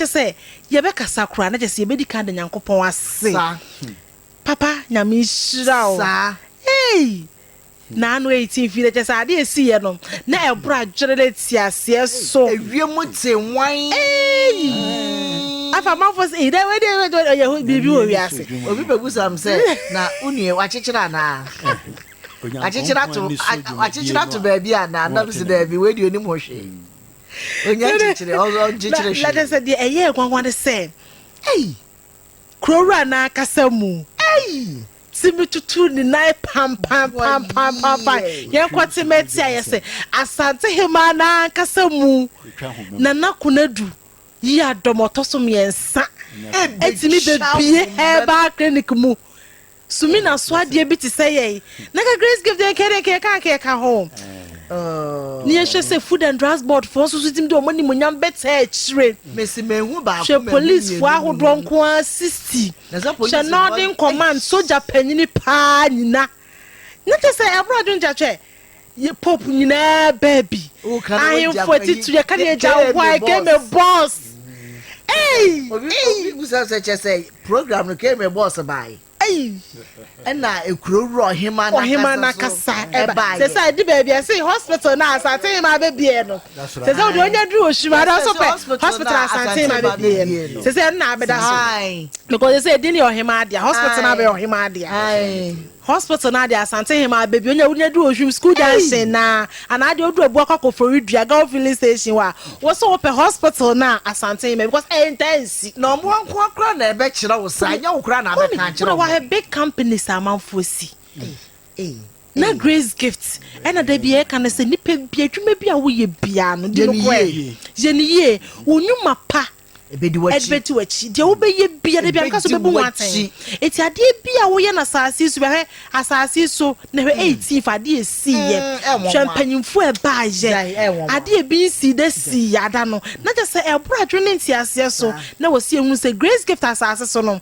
kyɛ sɛ yɛbɛkasa koraa na kyɛ sɛ yɛbɛdi kan ada Nyankopɔn ase papa Nyame nhyira wo eii. Na ano eyi tse mfii, na kyerɛ sɛ ade a esiiɛ no, na ɛboro adwene ne nteaseɛ so. Ewiem tse nwann. Eii! Afei amanfoɔ se, Eii, dɛ wei deɛ ɛyɛ dɛ ɔyɛ biribi wɔ wiase. Obi bɛbisa me sɛ, Na wo nua yi, wakyekyere anaa? Wakyekyere ato, wakyekyere ato baabi anaa? Na mese, Daabi, wei deɛ ɔnim ho hwee. Ɔnnya nkyekyere, ɔnkyekyere hwee. Na kyerɛ sɛ deɛ ɛyɛɛ nwanwa ne sɛ, Eii! Kurow wura no ankasa mu. Eii! Ti mi tutu ne nan pampampampampampae. Yɛnkɔ te mɛ ti ayɛ sɛ Asante hemaa no ankasa mu na Nakonadu yi adɔm ɔtɔ so mmiɛnsa atumi bɛbie herbal clinic mu sumi na so adeɛ bi te sɛ yɛn na ka grace gift deɛ nkɛdeɛ nkɛyɛ ka nkɛyɛ ka ho Oh. ne yɛhwɛ sɛ food and drugs board foɔ nso so tumi de wɔn animonyam bɛtaa akyire Mesi mehu baako hwɛ mɛhu policefoɔ mmienu ahodoɔ nko ara 60 Hyɛ Northern Command sogya panyini paa nyina na kyɛ sɛ ɛboro adwene kyɛ hwɛ yɛ pope nyinaa baa bi ahemfo atitiri ɛka ne agya why keme boss ei ei ei. Ɛna ekuro wura ɔhemaa no ankasa so n'ankasa ɛba ɛbaeɛ. sɛ sɛ ɛde baabi a ɛsɛ hospital no a Asante hemaa bɛbie no sɛ sɛ ɔde ɔnya duru Oshima no nso pɛ hospital a Asante hemaa bɛbie no sɛ sɛ ɛno na abɛda so Ae. because sɛ sɛ ɛdin no yɛ ɔhemaa dea hospital no abɛyɛ ɔhemaa dea Ae. hospital no adeɛ Asante hemaa bɛbie ɔnya wonya duru Oshim school junction no a Anaa deɛ ɔduru abua kɔ akɔfori dua gawo filling station hɔ a wo so wopɛ hospital no a Asante ma bi because ɛntaa nsi. Na wɔn nkoa koraa na ɛbɛkyerɛ wo saa ɛnyɛ wo koraa na abɛka akyerɛ wɔn. Woahwɛ big companies a amanfoɔ si na Grace Gift ɛna da biara yɛka no sɛ nipa bi adwuma bi a woyɛ biara no di no korɛ yɛ no yie wo nwuma pa Ɛbɛdi w'akyi. Ɛbɛdi w'akyi. Deɛ wobɛyɛ biara, ebi anka sɛ ɔbɛbu ho atɛn. Enti adeɛ bi a woyɛ no asase yi so bia, hwɛ asase yi so na hwɛ eighteen fa adeɛ ɛsiiɛ. Hwɛ mpanyinfoɔ ɛbaayɛ. Adeɛ ebi nsii da sii yɛ ada no. Na kyerɛ sɛ ɛboro adwene ne nteaseɛ so. Na wɔ si yɛhunu sɛ Grace Gift asase so no,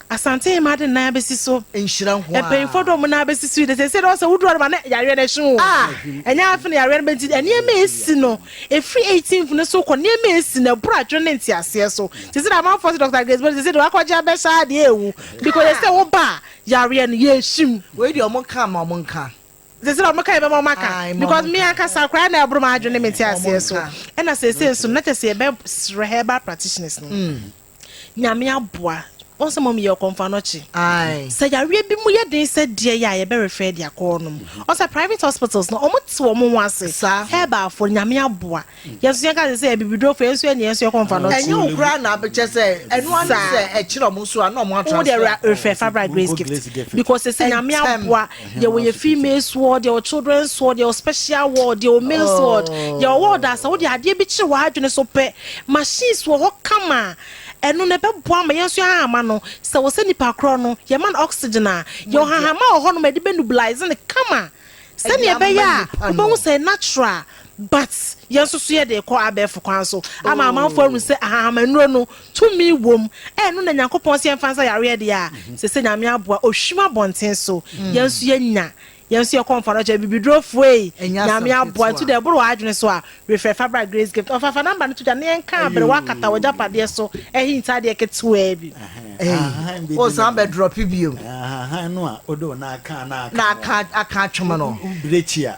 Asante hema ade nan abesi so. Nhyira nko ara. Mpanyinfoɔ de wɔn nan abesi so yi de seesei na ɔsɛ woduru adama na yareɛ no ɛhye wo. Ah ɛnyɛ afe na yareɛ no bɛ nti nneɛma esi no efiri eighteenth no so kɔ nneɛma esi no ɛboro adwene ne nteaseɛ so te sɛ deɛ amanfoɔ se Doctor Grace Body seesei deɛ wakɔ gye abɛ saa deɛ ewu bi kɔ yɛ sɛ wo ba a yareɛ no yɛ ehye mu. Wei deɛ wɔn ka ma wɔn nka. Seesei na wɔn ka yɛ bɛ ma wɔn aka because me ankasa koraa na ɛboro m'adwene ne me nteaseɛ so ɛna seesei nso no na kyɛ sɛ yɛ bɛ srɛ herbal practitioners no. Nyame aboa. Wohu sɛ mom yɛ ɔkɔmfanɔkye. Sɛ yareɛ bi mu yɛ den sɛ deɛ yɛ a yɛbɛ refer de akɔ hɔ nom. Wohu sɛ private hospitals no wɔn te wɔn ho ase. Herbal foɔ no Nyame aboa. Yɛn nso yɛka sɛ sɛ abibiduro foɔ yɛn nso yɛ deɛ yɛn nso yɛ ɔkɔmfanɔkye. Ɛnyɛ wo koraa na kyɛ sɛ ɛno ara ne sɛ ɛkyerɛ wɔn nso a na wɔn a transfer kɔ. Wo deɛ refer fa bra Grace Gift because sɛsɛ Nyame aboa. Deɛ wɔ yɛ females ward, deɛ wɔ children's ward, deɛ wɔ special ward, deɛ wɔ males ward, deɛ wɔ ward asa wo deɛ adeɛ bi kyerɛ wɔ adwene so pɛ. Machines wɔ hɔ kama a ɛno no ɛbɛboa ama yɛn nso yɛn ahahama no sɛ wɔ sɛ nipa korɔ no yɛ ma no oxygen a yɛ wɔ hahama wɔ hɔ nom a yɛde bɛ nubilise no kama sɛdeɛ ɛbɛyɛ a wobɛhu sɛ natural. But yɛn nso so yɛde rekɔ abɛɛfo kwan so ama amanfo ahu sɛ ahahamannuro no, tumi wom. Ɛno na Nyankopɔn se yɛmfa nsa yareɛ deɛ a, sese Nyame aboa, ohwim abɔnten so. Yɛn nso yɛnya, yɛn nso yɛkɔ mfa no kyɛ abibiduro fo ei, Nyame aboa. Nti deɛ ɛboro w'adwene so a, refrɛ fa bra Grace Gift Offer. Fa number no to dwa na yɛnka abrɛ wo akata w'agyapadeɛ so hint adeɛ ketewaa bi. Ahahan bɛdi Wosan bɛ drop bio. Ahahan no a wode wo nan aka na aka no. Na aka atwom no. Wo brekyi a.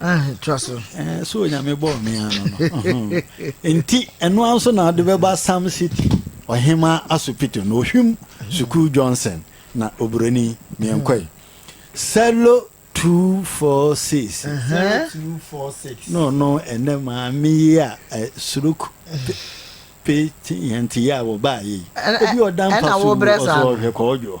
Ah, tra so. Eh, so onyame bɔɔ me ano no. Nti, ɛno ara nso na ɔde bɛba Sam City, ɔhema asopito no, ohwim sukuu Johnson na oburoni meɛnkɔe. Sɛlo 246. Sɛlo 246. No, no, ɛnɛ maame yi a eh, suruk pe yɛn te yɛ a wɔbaa yɛ yi. Ebi ɔda mpa so ɔsɔ ɔhwɛ kɔɔdwoɔ.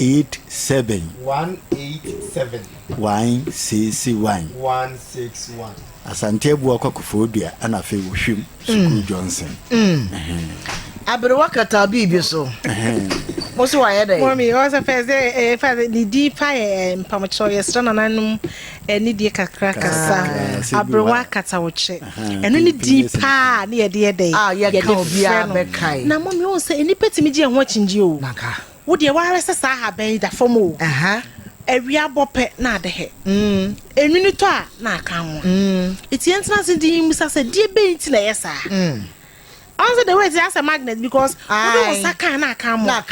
Eight seven. One eight seven. One six one. One six one. Asante Abua kɔ Koforidua ɛna afei wɔ Hwim sukuu mm. Johnson. Mm. Aberewa kata biribi so. Mo so wayɛ dɛ. Mɔmi ɔsɛ fɛ sɛ ɛɛ fa ne di pa yɛ ɛɛ mpamokyɛw yɛ srɛ nananom ɛne die kakra kasa aberewa kata ɔkyɛ ɛno ne di paa ne yɛde yɛ dɛ. A yɛ ka obiara bɛ ka yi. Na mɔmi ɔsɛ nipa tumi gye ɛho akyingye o. Naka. Wo deɛ woahwɛ sɛ saa ahaban yi da fam o, awia bɔ pɛ na ade hɛ, enwini tɔ a na aka amoa. Eti yɛn tena ase dinn mmisa sɛ deɛ bɛn nti na ɛyɛ saa? Ɔn sɛ the way te asɛ magnet because wode wo nsa ka a na aka amoa.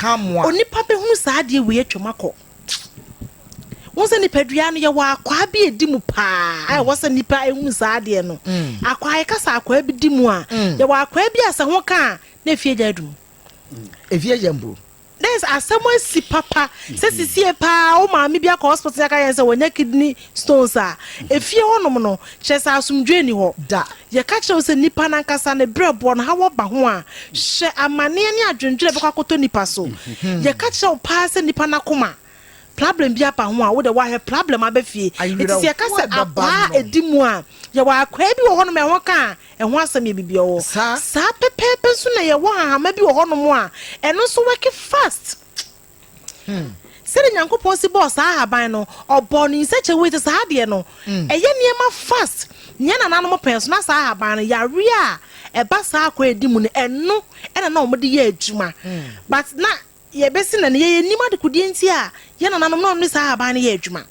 Onipa bɛhunu saa adeɛ wei atwam akɔ. Wohu sɛ nipadua no yɛwɔ akwaa bi a ɛdi mu paa a ɛwɔ sɛ nipa hunu saa adeɛ no. Akwaa yɛka sɛ akwaa bi di mu a, yɛwɔ akwaa bi a sɛ ho ka a na ɛfie gya adu mu. Ɛfie yɛ mbro. Dɛ sɛ asɛm asi papa sɛ sesie paa wo maame bi akɔ hospital na yɛka kyerɛ no sɛ wanya kidney stones a, efie hɔnom no, kyerɛ sɛ asomdwoe nni hɔ. Da. Yɛka kyerɛ wo sɛ nnipa no ankasa ne berɛboɔ no, haw aba ho a, hwɛ amanneɛ ne adwendwene a ɛbɛkɔ akɔtɔ nnipa so. Yɛka kyerɛ wo paa sɛ nnipa no akoma. Problem bi aba ho a, wo de woahwɛ problem aba fie. Enti sɛ yɛka sɛ akwaa a ɛdi mu a, yɛwɔ akwaa bi wɔ hɔnom a ɛho ka a, ɛho asɛm yɛ biribi a ɔwɔ. Saa pɛpɛɛpɛ nso na yɛwɔ hahama bi wɔ hɔnom a, ɛno nso wɛke fast. Sɛdeɛ Nyankopɔn si bɔɔ saa ahaban no, ɔbɔɔ no in such a way sɛ saa adeɛ no, ɛyɛ nneɛma fast. Nea na nananom pɛ nso, na saa ahaban no, yareɛ a ɛba saa akwaa a ɛdi mu no, ɛno na na wɔde yɛ adwuma. But na. Yɛbɛse nnɛ no, yɛnnim adekodeɛ nti a yɛn nananom na wɔde saa ahaban no yɛɛ adwuma.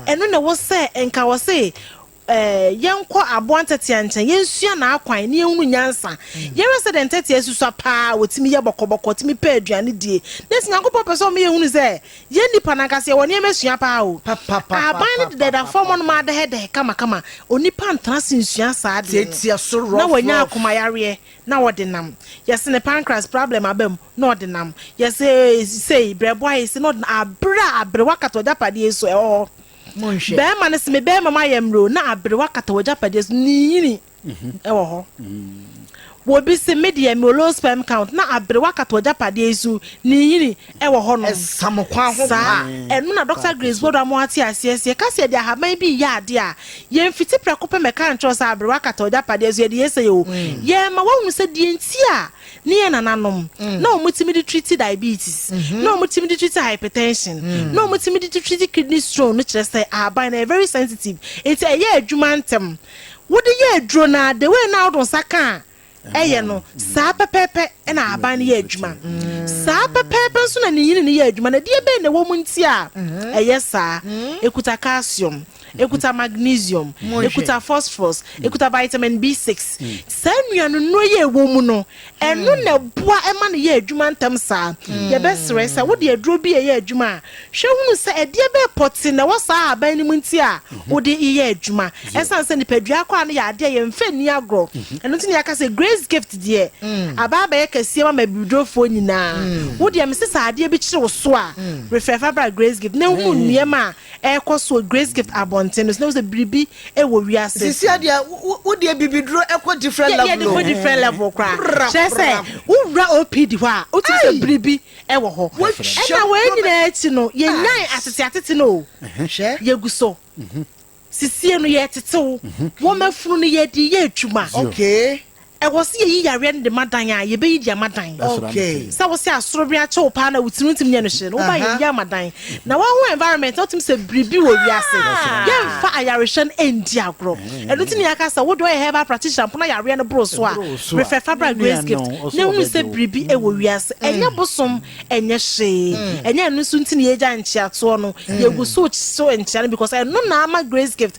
Ɛno na ɛwɔ sɛ nka wɔse yɛnkɔ aboa ntɛtea nkyɛn, yɛnsua n'akwan, na yɛnhunu nyansa. Yɛhwɛ sɛdeɛ ntɛtea susua pa ara a, wɔtumi yɛ bɔkɔbɔkɔ, wɔtumi pɛ aduane die. Na ɛsɛ Nyankopɔn pɛ sɛ ɔma yɛhunu sɛ yɛn nnipa no ankasa yɛwɔ nneɛma sua pa ara o. Ahaban no dedada fam hɔnom ara dɛhɛdɛhɛ kamakama, onipa ntena ase nsua saa adeɛ no, na wanya akomayareɛ na ɔde nam. Yɛse no pancreas problem aba mu. na ɔde nam. Yɛse sei brɛboa yi se na ɔde nam abere a aberewa kata w'agyapadeɛ yi so ɛwɔ hɔ. Monhwɛ. Barima no se me barima mu ayɛ mmerɛ o na aberewa kata w'agyapadeɛ so ne yini ɛwɔ hɔ. Wɔbi se me deɛ mewɔ low sperm count na aberewa kata w'agyapadeɛ yi so ne yini ɛwɔ hɔ nom. Ɛsamokwan ho pa. Saa ɛno na Doctor Grace Boadu ama w'ate aseɛ se yɛka se yɛde ahaban bi reyɛ adeɛ a yɛnfiti prɛko pɛ mɛka nkyerɛ wo sɛ aberewa kata w'agyapadeɛ so yɛde yɛ sei o. Yɛrema w'ahunu sɛ deɛ nti a. Ne yɛn nananom, na wɔtumi de treati diabetes, na wɔtumi de treati hypertension, na wɔtumi de treati kidney stone no kyerɛ sɛ ahaban no ɛyɛ very sensitive, nti ɛyɛ adwuma ntɛm. Wode yɛ aduro no ara, the way no a wode wo nsa ka a ɛyɛ no, saa pɛpɛɛpɛ na ahaban no yɛ adwuma. Saa pɛpɛɛpɛ nso na ne nyini no yɛ adwuma. Na ɛdeɛ bɛn na ɛwɔ mu nti a ɛyɛ saa? Ɛkuta calcium. ɛkuta magnesium, ɛkuta phosphorus, ɛkuta vitamin B6. Saa nnuanonuro yi a ɛwɔ mu no, ɛno na ɛboa ɛma no yɛ adwuma ntɛm saa. Yɛbɛsrɛ sɛ wode aduro bi reyɛ adwuma a, hwɛ hunu sɛ ɛdeɛ bɛyɛ pɔtee na ɛwɔ saa ahaban no mu nti a wode reyɛ adwuma. Ɛsiane sɛ nipadua akwaa no yɛ adeɛ a yɛmfa nni agorɔ, ɛno nti na yɛaka sɛ Grace Gift deɛ aba abɛyɛ kɛseɛ ma mabiridofoɔ nyinaa. Wo deɛ mese sɛ adeɛ bi kyere wo so a, refɛfa bra Grace Gift na hunu nneɛma a ɛrekɔ so wɔ Gracegift abɔnten no so na wohu sɛ biribi wɔ wiase. Sisi a deɛ wode abibiduro kɔ different level o. Yɛde kɔ different level koraa. Kyerɛ sɛ wowura OPD hɔ a wotumi sɛ biribi wɔ hɔ. Ɛna wei nyinaa akyi no yɛnyae atete atete no o. Hwɛ. Yɛgu so. Sisie no yɛretetew. Wɔma funu no yɛde yɛ adwuma. Okay. Ɛwɔ sɛ yɛyi yareɛ no de ma dan a, yɛbɛyi de ama dan. Sɛ wo sɛ asoro wɛn akyɛ wo paa na wo tiri wontumi nyɛ no hwee no, wo ba yɛyi ama dan. Na woahu environment na wotumi sɛ biribi wɔ wiase. Yɛmfa ayarehwɛ no ɛndi agorɔ. Ɛno nti na yɛaka sɛ wo deɛ ɔyɛ herbal practitioner mpo na yareɛ no boro so a, refɛ fa bra Grace Gift na hunu sɛ biribi wɔ wiase. Ɛnyɛ bosom, ɛnyɛ hwee. Ɛnyɛ ɛno nso nti na yɛgya nkyeatoɔ no. Yɛgu so so nkyea no because ɛno na ama Grace Gift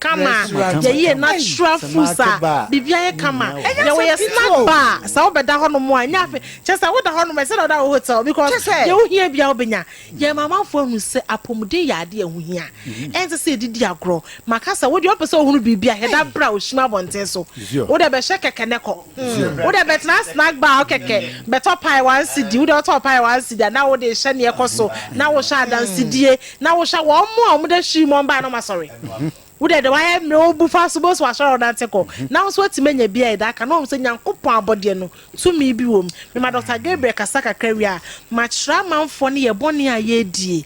kama yɛyɛ natural foods a biribiara yɛ kama yɛ wɔyɛ snack bar a sɛ wobɛda hɔnom a ɛnyɛ afe kyɛ sɛ woda hɔnom a ɛsɛ na woda wɔ hotel because deɛ wohia bia wobɛnya yɛ ma amanfoɔ ahu sɛ apɔmuden yɛ adeɛ a ɛho hia ɛnsɛ sɛ ɛdidi agorɔ maka sɛ wodeɛ wopɛ sɛ wohunu biribi a hɛda berɛ a ɔhyim abɔnten so wode bɛhyɛ kɛkɛ ne kɔ wode bɛtena snack bar a wokɛkɛ bɛtɔ pae one cedi wode wotɔ pae one cedi anaa wode hyɛ ne ɛkɔ so na wohyɛ adansedie Na wohyɛ wɔn mmoa a wɔde ahyiri mmɔn bae no ma sɔre. Wode de wayɛ mmere wo bofa so bosu asɔre a wonante kɔ, na wo nso woatumi anya bi a ɛda ka na woahu sɛ Nyankopɔn abɔdeɛ no tumi bi wɔ mu. Mema Dɔkta Gabriel kasa kakra wie a, makyerɛ amanfoɔ no yɛ bɔne a yɛredie.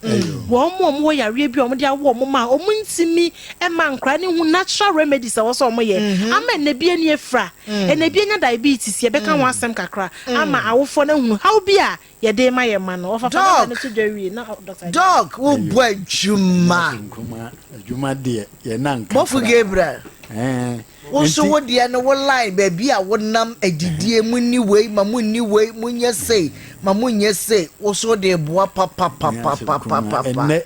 Wɔn a wɔwɔ yareɛ bi a wɔde awo wɔn mma a wɔntumi mma nkora no hu natural remedies a ɛwɔ sɛ wɔyɛ ama ɛnna bi ani afira, ɛnna bi anya diabetes, yɛbɛka ho asɛm kakra ama awofoɔ no ahunu haw bi a Yɛde rema yɛn mma no. Ɔfafa dada no to dwa wie na dɔkta agya. Dɔk wo bɔ adwuma. Nkruma adwuma deɛ yɛ na nka. Bɔfo Gabriel. Ɛɛ. Wo so wo deɛ no wo line baabi a wo nam adidie mo ni wei ma mo ni wei mo nyɛ sei ma mo nyɛ sei wo so de boa papapapapapapa. Ɛnɛ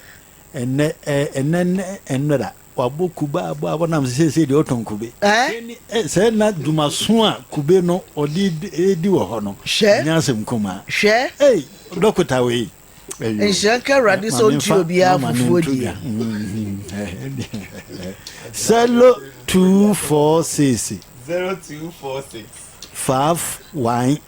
ɛnɛ ɛnɛ ɛnɛ ɛnɛra. Wɔabɔ kube abɔ abɔ nam sɛ seesei deɛ ɔtɔn kube. Hwɛ sɛ na dwumaso a kube no ɔde di wɔ hɔ no nyɛ asɛm nkumaa. Hwɛ! Ei, dɔkota wei. Nhyira nka Awurade sɛ ɔntua obiara fufuo deɛ. Sɛlo two four six. Zero two four six. Faaf wan.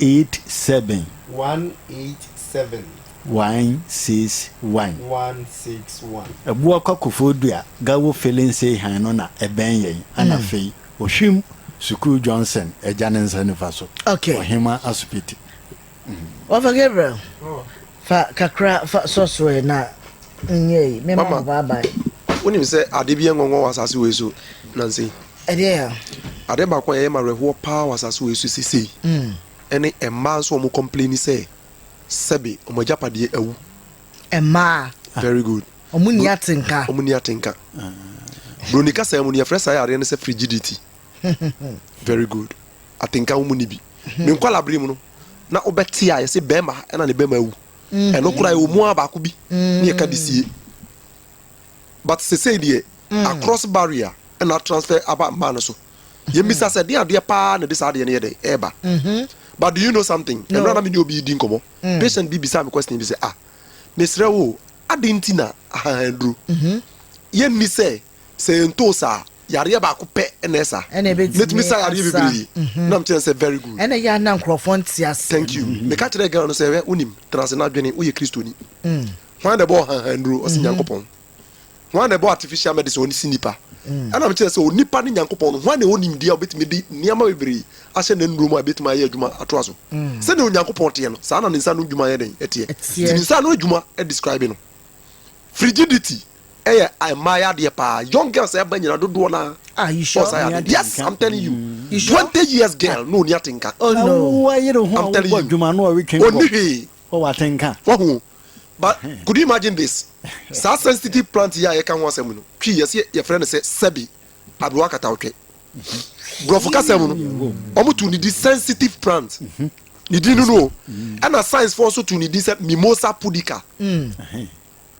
eight seven. One eight seven. One six one. One six one. Ɛboɔ kwa kofoɔ dua gawo filling say han no na ɛbɛn yɛn ana afei ɔhwim sukuu Johnson agya ne nsa nifa so okay ɔhema asopiti. Ɔfa Gabriel fa kakra fa sɔ so ɛ na nyɛ yi mema mo bye bye. Wonim sɛ ade bi yɛ ngɔngɔn wɔ asase wei so nansa yi. Ɛdeɛn a? Adeɛ baako a ɛyɛ me awerɛhoɔ pa ara wɔ asase wei so seesei ne mmaa nso a wɔn complaini sɛ sɛbe wɔn agyapadeɛ awu. Mmaa. Very good. Wɔn nni atenka. Wɔn nni atenka. Broni kasa mu no yɛfrɛ saa yareɛ no sɛ frigidity. Very good. Atenka wɔn nni bi. Me hmm. nkwala bere mu no na wobɛte a yɛsɛ bɛrima ɛna ne bɛrima awu. Hmm. Ɛno koraa ɛwɔ mu a baako bi hmm. ne yɛka de sie. But sesei deɛ across barrier na atransfer aba mmaa no so. Yɛn bisa sɛ ɛdeɛn adeɛ paa na ɛde saa adeɛ no yɛ dɛn ɛɛba? But do you know something, ɛmerɛ a na me ne obi redi nkɔmmɔ, patient bi bisaa me question bi sɛ, ah, mesrɛ wo o, adɛn nti na ahahanduro yɛ nni sɛ sɛ yɛn too sa a, yareɛ baako pɛ na ɛsa? Mɛtumi sa yareɛ bebree. Na mekyerɛ no sɛ very good. Thank you. Meka kyerɛɛ girl no sɛ, hwɛ, wonim, tena ase na dwene, woyɛ Kristoni. Hwan na ɛbɔɔ hanhan nnuro? Ɔse Nyankopɔn. Hwan na ɛbɔɔ artificial medicine? Ɔno se nnipa. Ɛna mekyerɛ sɛ onipa ne Nyankopɔn no, hwan na ɛwɔ nimdeɛ a ɔbɛtumi de nneɛma bebree ahyɛ n'annuro mu a ɛbɛtumi ayɛ adwuma atoa so? Sɛdeɛ Onyankopɔn teɛ no, saa na ne nsa ano adwuma yɛ dɛn? Ɛteɛ. Nti ne nsa ano adwuma describe no. Frigidity yɛ mmaayɛ adeɛ paa. Young girls a ɛba nyina dodoɔ no ara wɔ saa yɛ adeɛ. Yes, I'm telling you. Twenty years girl na ɔnni atenka. I'm telling you. Ɔnni hwee. Wɔ w'atenka. Wahu o but could you imagine this saa sensitive plant yi a yɛka ho asɛm no twi yɛse yɛfrɛ no sɛ sɛbi aberewa katawtwe borɔfo kasa mu no ɔmo to ne di sensitive plant ne din no no o ɛna science foɔ nso to ne din sɛ mimosa pudica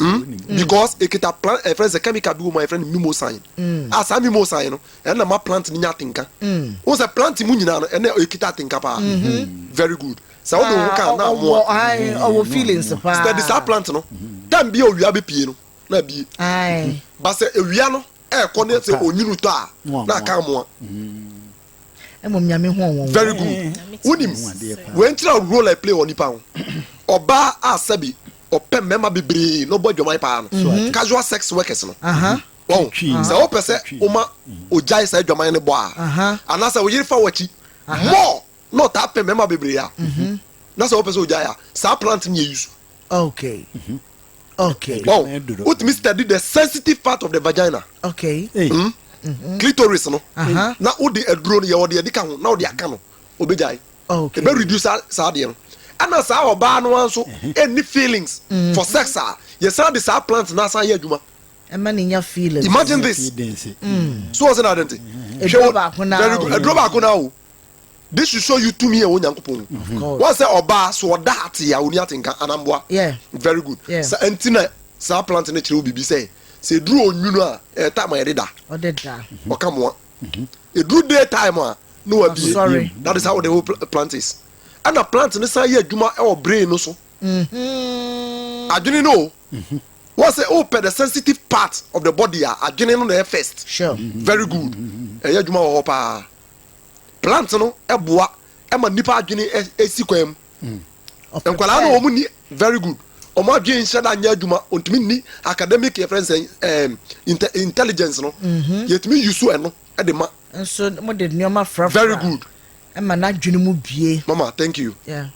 Hmm? Because ekita plant ɛfrɛ eh, sɛ chemical bi wɔ mu a yɛfrɛ no mimosan. Hmm. A ah, saa mimosan no ɛna ma plant no nya atenka. Hmm. Wo sɛ plant mu nyinaa no ɛna ekita atenka paa. Mm-hmm. Very good. Sɛ wode wo ka na amoa. Ɔwɔ feelings paa. Study saa plant no. Time bi a owia bɛ pie no na bie. Ba sɛ ewia no ɛɛkɔ ne sɛ onyini tɔ a na aka amoa. Ɛmɔ nyame ho wɔn. Very good. Wonim wɛnkyerɛ role I play wɔ nipa ho. Ɔbaa a sɛbi ɔpɛ mmarima bebree na ɔbɔ adwaman paa no, casual sex workers no. Wahu? Sɛ wopɛ sɛ woma ogyae saa adwaman no bɔ a, anaasɛ wo yere fa wo akyi more na ɔtaa pɛ mmarima bebree a, na sɛ wopɛ sɛ ogyae a, saa plant no yɛ use. Wahu? Wotumi study the sensitive part of the vagina, clitoris no, na wode aduro no yɛ ɔde adi ka ho na wode aka no, obegyae. ɛbɛ reduce saa adeɛ no. Ɛna saa ɔbaa no ara nso nni feelings for sex a, yɛsan de saa plant no asan yɛ adwuma. Ɛma no nya feelings. Imagine this. So wɔn sɛ na ade nti. Aduro baako no ara o. Aduro baako no ara o. This should show you tumi a ɛwɔ Nyankopɔn mu. Wɔn sɛ ɔbaa so ɔda ate a ɔni atenka anamboa. Very good. Sa nti na saa plant no kyerɛ wo biribi sɛ sɛ aduro onwunu a ɛyɛ time a yɛde da. Ɔde da. Ɔka moa. Ɛduru day time a na wabie that is how the whole plant is. Ɛna plant no san yɛ adwuma wɔ brain no so. Mm-hmm. Adwene no o. Mm-hmm. Wọ́n sẹ́ o pẹ̀ the sensitive part of the body a adwene no na ẹ first. Sure. Mm-hmm. Very good. Ẹ yẹ adwuma wọ hɔ paa. Plant no ẹ boa ẹ ma nipa adwene ẹ si kwan mu. Nkwadaa no wɔn ni very good. Wɔn adwene nhyɛ da nyɛ adwuma. Wɔntumi nni academic yɛ fɛn sɛ ɛɛm intelligence no. Mhm. Yɛtumi yi so ɛno ɛde ma. Nso mo de nneɛma frafra. Very good. Ɛma n'adwene mu bie. Mama thank you. Yeah.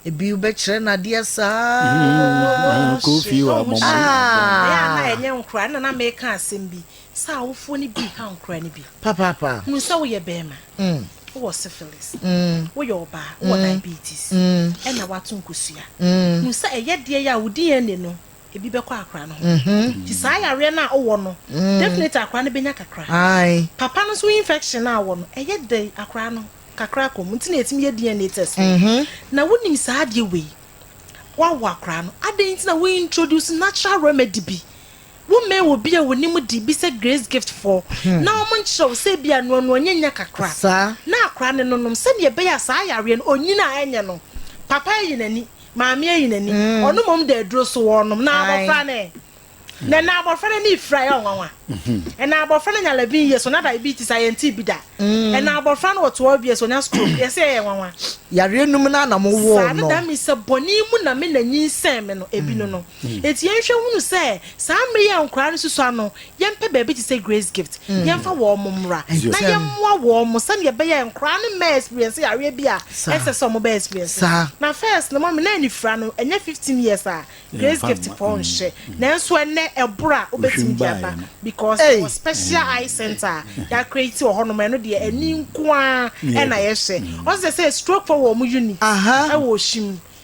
Ebi wobɛkyerɛ no adeɛ saa. Mm-hmm. Kofi wa mo mo. Ah. Ɛyɛ a na ɛnyɛ nkora na na meka asɛm bi sɛ awofoɔ no bi ha nkora no bi. Papaapa. Hunu sɛ woyɛ bɛrima. Mm. Wowɔ syphilis, woyɛ ɔbaa, wowɔ diabetes, ɛna woato nkosua. Hu sɛ ɛyɛ deɛ yi a wo DNA no ebi bɛkɔ akora no ho. Nti saa yareɛ no a wowɔ no definitely akora no bɛnya kakra. Papa no nso infection no a ɔwɔ no ɛyɛ dɛn akora no kakra akɔ mu nti na yɛtumi yɛ DNA test no. Na wonim saa adeɛ wei, woawo akora no adɛn nti na wo introduce natural remedy bi Wommɛɛ obi a wonim de bi sɛ Grace Gift fɔ na wɔnkyerɛ wo sɛ ebia noanoa nya nya kakra na akora ne no nom sɛnea ɛbɛyɛ a saa yareɛ no ɔnyin a ɛnyɛ no. Papa ayi n'ani, maame ayi n'ani, ɔno mmom da aduro so ɔrenom na abɔfra no ɛ? Na ɛnna abɔfra no ani refira, ɛyɛ ɔnwanwa. Ɛnna abɔfra no nya labin yie so na diabetes a yɛntee bi da. Ɛnna abɔfra no wɔ toa bie so ɔnya stroke, yɛse ɛyɛ nwanwa. Yareɛ nom no ara na mowɔɔ no. Saa no da me sɛ bɔne mu na me na nyinsɛn me no, ebi no no. Enti yɛnhwɛ nhunu sɛ saa mmere yi a nkwadaa no susua no, yɛmpɛ baabi te sɛ Grace Gift, yɛmfa wɔn mmra na yɛmmoa wɔn sɛnea ɛbɛyɛ a nkwadaa no mmɛ experience yareɛ bi a ɛnsɛ sɛ wɔbɛ experience no. Na first no, mummy, na anifira no, ɛnyɛ fifteen years a Grace Gift pɔw nhyɛ, nanso ɛnnɛ ɛboro a wobɛtumi de aba because yɛwɔ special eye center a yɛacreate wɔ hɔnom a ɛno deɛ ani nko ara na yɛhwɛ. Ɔsɛ sɛ strokefoɔ wɔ wɔn unit wɔ Oshim.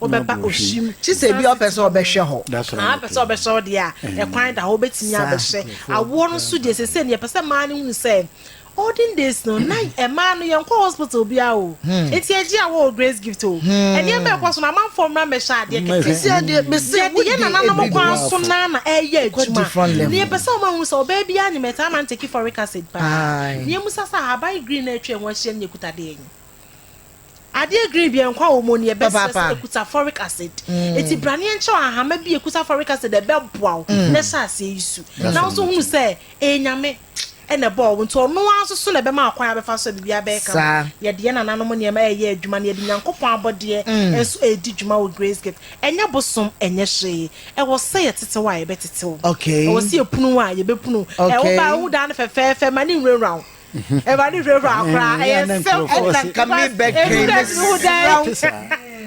Wobɛba ɔhye mu. Gye sɛ ebia wopɛ sɛ wobɛhwɛ hɔ. Anaa wopɛ sɛ wobɛhwɛ hɔ deɛ a, kwan da hɔ, wobɛtumi abɛhwɛ. Awoɔ no nso deɛ, seesei no yɛpɛ sɛ mmaa no hunu sɛ, olden days no, na mmaa no yɛnkɔ hospital biara o, enti ɛgye awoɔ wɔ Grace Gift o, ɛnneɛma a ɛkɔ so no, amanfoɔ mmra mmɛhyɛ adeɛ kɛkɛ. Yɛde yɛn nananom kwan so no ara na ɛreyɛ adwuma. Nea yɛpɛ sɛ wɔahu ne sɛ, ɔbaa biara nim, ɛtaa ma no take folic acid paa. Nea mmusa sɛ, ahaban green a atwa yɛn ho ahyia no na ɛkuta dɛn? Adeɛ green bia nkwa wɔ mu oni ɛbɛ srɛ sɛ ekuta foric acid eti braneɛ nkyɛw ahama bi ekuta foric acid ɛbɛ boa wo mm. na ɛhyɛ aseɛ yi su na nso hunu sɛ ɛyɛ nyame ɛna ɛbɔ ɔwo nti ɔno ara nso so na ɛbɛma akwan abɛfa so bibi abɛyɛ kama yɛde yɛn nananom nneɛma ɛyɛ adwuma na yɛde nyankopɔn abɔdeɛ mm. nso ɛredi dwuma wɔ grace gift ɛnyɛ bosom ɛnyɛ hwee ɛwɔ sɛ yɛtetew a yɛbɛtetew ɛwɔ sɛ yɛpunu a yɛbɛpunu ɛwo ba ɛwo daa no fɛfɛɛfɛ ma ne nwurawura wo Awurade huraa koraa, ɛyɛ sɛ ɛna nka mebɛdwɛn ne sraw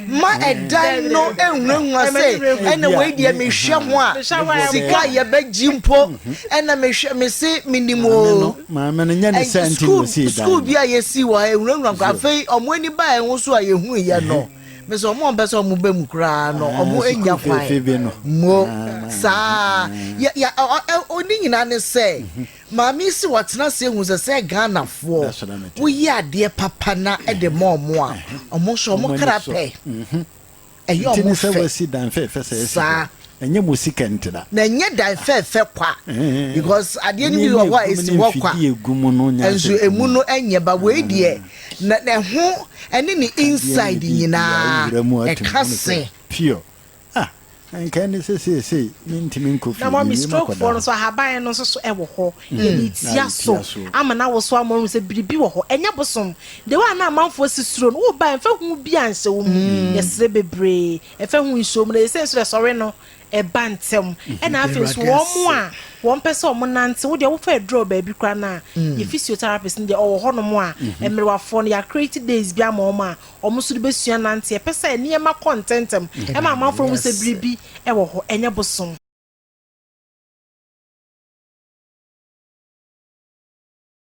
ma ɛdan no nhunahuna sɛ ɛna wei deɛ mehwɛ ho a sika a yɛbɛgye mpo ɛna mehwɛ me se menim o sukuu bi a yɛsii wɔ ha ɛhunahuna koraa afei ɔmo ani baa ɛho so a yɛhunu yɛ no me sɛ ɔmo ɔmpɛ sɛ ɔmo bɛ mu koraa no ɔmo anya kwan mo saa ɔne nyinaa ne sɛ Maame yi se wɔatena ase ahu sɛ sɛ Ghanafoɔ woyɛ adeɛ papa na de ma wɔn a, wɔn nso wɔn kra pɛ. Ɛyɛ wɔn fɛ saa. Na ɛnyɛ dan fɛɛfɛ kwa because adeɛ no bi wɔ hɔ a ɛsi hɔ kwa nso ɛmu no nyɛ ba wei deɛ na ɛho ɛne ne inside nyinaa ɛka se. Ah, anka ɛne sɛ seesei mentumi nkɔ fie, Na Mummy, mewiem stroke foɔ akɔda no hɔ. nso ahaban no nso so wɔ hɔ. Yɛde Mm, retia na so retia so. ama no awoso ama wahu sɛ biribi wɔ hɔ. Ɛnyɛ bosom. The way a na amanfoɔ si suro no, wobae a ɛmfa hu biara nhyɛ wo mu. Yɛsrɛ bebree, ɛmfa hu nhyɛ wo mu. Na seesei nso deɛ sɔre no, ɛba ntɛm. Ɛna afei nso, Awurade wɔn ase. a wɔmpɛ sɛ wɔnante, wo deɛ wofa aduru a baabi koraa no a, yɛn physiotherapist no deɛ ɔwɔ hɔnom a mmerewafoɔ no, yɛacreate days bi ama wɔn a wɔn nso de bɛsua nanteɛ. Ɛpɛ sɛ nneɛma kɔ ntɛmntɛm. Ɛma amanfoɔ hu sɛ biribi wɔ hɔ, ɛnyɛ bosom.